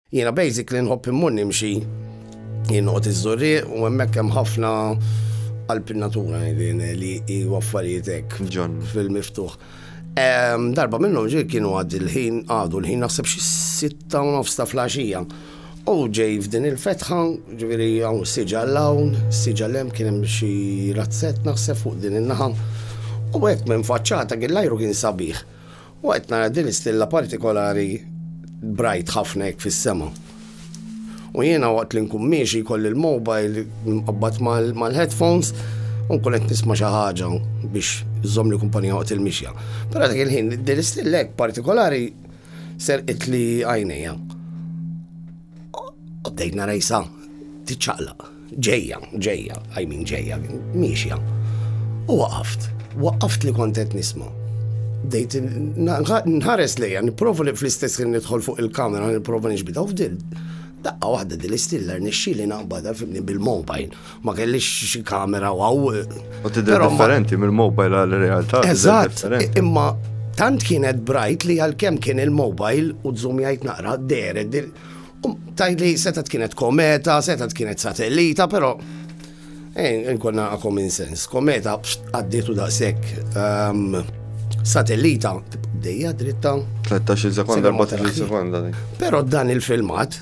Jiena basically nħobb immur nimxi, jien noqgħod iż-Żurrieq u hemmhekk hemm ħafna qalb in-natura ngħidin li hu affarijiet hekk fil-miftuħ. Darba minnhom ġej kienu għad il-ħin għadu l-ħin naħseb xi sitta u nofs ta' flaxija. U ġej f'din il-fetħa, ġifieri hawn siġa l-hawn, siġa l-hemm kien hemm xi razzett naħseb fuq din in-naħa. U hekk minn faċċata kien l-ajru kien sabiħ. U qed nara din l-istilla partikolari brajt ħafna hekk fis-sema. U jiena waqt li nkun miexi jkolli l-mobile mqabbad mal-headphones u nkun qed nisma' xi ħaġa biex żomm li kumpanija waqt il-mixja. Però dak il-ħin din l-istilla hekk partikolari serqit li għajnejja. U bdejt nara jisa tiċċaqlaq. Ġejja, ġejja, I mean ġejja, miexja. U waqaft, waqaft li kont qed nisma'. Bdejt nħares lejja, nipprova li fl-istess kien nidħol fuq il-kamera, nipprova nixbita u fdil. Daqqa waħda din l-istiller nixxili naqbada fimni bil-mobile. Ma kellix xi kamera waw. U tidher differenti mill-mobile għal-realtà. Eżatt, imma tant kienet brajt li għal-kem kien il-mobile u d-zoom jgħid naqra d-deret Tgħid li setgħet kienet kometa, setgħet kienet satellita, però eh, nkonna common sense. Kometa għaddietu daqshekk ehm, satellita dejja dritta. 13 sekonda, 14 sekonda. Però dan il-filmat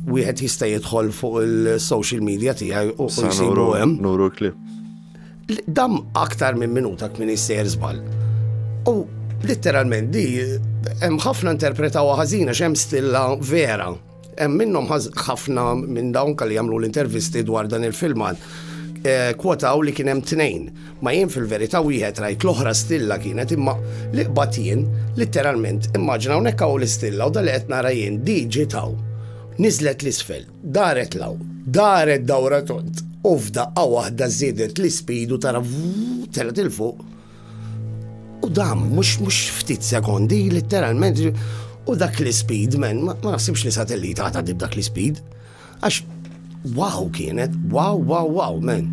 wieħed jista' jidħol fuq il-social media tiegħi u jsibu hemm. Nuru l-klip. Dam aktar minn minuta kmin jistejjer żball. U litteralment di hemm ħafna interpretaw ħażina x'hemm stilla vera. Hemm minnhom ħafna minn dawn kalli jagħmlu l-intervisti dwar dan il-filmat eh, kwotaw li kien hemm tnejn. Ma jien fil-verità wieħed rajt l-oħra stilla kienet imma li qbad jien litteralment immaġina hawnhekk hawn l-istilla u dal qed nara jien di ġitaw. Niżlet l-isfel. Daret 'l hawn, daret dawra tond, u f'daqqa waħda żiedet l-ispidu tara telgħet 'il fuq. U dam, mhux mhux ftit sekondi, litteralment, u dak l-ispid, men, ma naħsibx li satellita għata dib dak l-ispid. Għax, wow kienet, wow, wow, wow, men.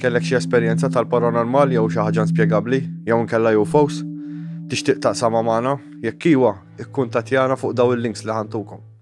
Kellek xi esperjenza tal-paranormal jew xi ħaġa inspjegabbli jew inkella UFOs? Tixtieq taqsamha magħna? Jekk iwa, ikkuntattjana fuq dawn il-links li ħa ntukom.